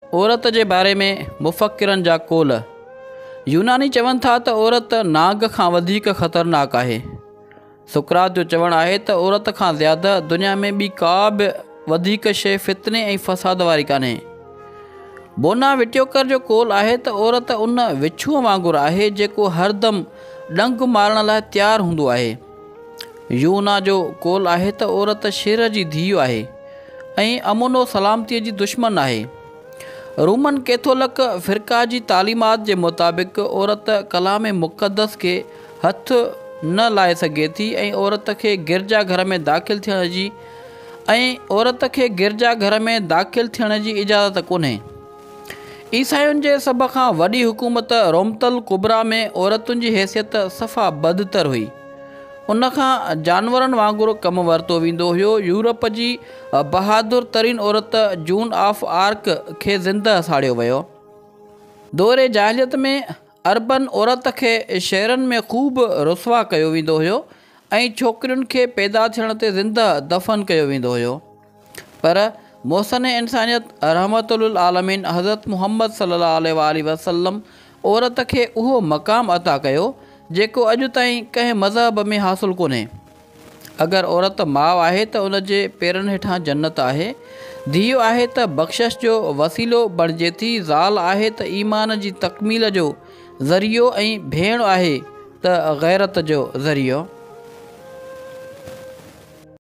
عورت جي باري ۾ مفڪرن جا قول، يوناني چون ٿا ته عورت ناگ کان وڌيڪ خطرناڪ آهي. سقراط جو چوڻ آهي ته عورت کان زياده دنيا ۾ ٻي ڪا به وڌيڪ شيء فتني ۽ فساد واري ڪانهي. بونا وٽيوڪر جو قول آهي ته عورت ان وڇونء وانگر آهي جيڪو هر دم ڏنگ مارڻ لاء تيار هوندو آهي. يونا جو قول آهي ته عورت شير جي ڌيء آهي ۽ امن و سلامتيء جي دشمن آهي. رومن ڪيٿولڪ فرقه جي تعليمات جي مطابق عورت ڪلام مقدس کي هٿ نه لائي سگهي ٿي ۽ عورت کي گرجا گهر ۾ داخل ٿيڻ جي ۽ عورت کي گرجا گهر ۾ داخل ٿيڻ جي اجازت ڪونهي. عيسائين جي سڀ کان وڏي حڪومت رومة الڪبريٰ ۾ عورتن جي حيثيت صفا بدتر هئي. ان کان جانورن وانگر ڪم ورتو ويندو هيو. يورپ جي بهادر ترين عورت جون آف آرڪ کي زندهه ساڙيو ويو. دور جاهليت ۾ عربن عورت کي شهرن ۾ خوب رسوا ڪيو ويندو هيو ۽ ڇوڪرين کي پيدا ٿيڻ تي زندهه دفن ڪيو ويندو هيو. پر محسن انسانيت رحمة للعالمين حضرت محمد صلّي الله عليه واٰله وسلّم عورت کي اهو مقام عطا ڪيو جيڪو اڄ تائين ڪنهن مذهب ۾ حاصل ڪونهي. اگر عورت ماء آهي ته ان جي پيرن هيٺان جنّت آهي، ڌيء آهي ته بخشش جو وسيلو بڻجي ٿي، زال آهي ته ايمان جي تڪميل جو ذريعو ۽ ڀيڻ آهي ته غيرت جو ذريعو.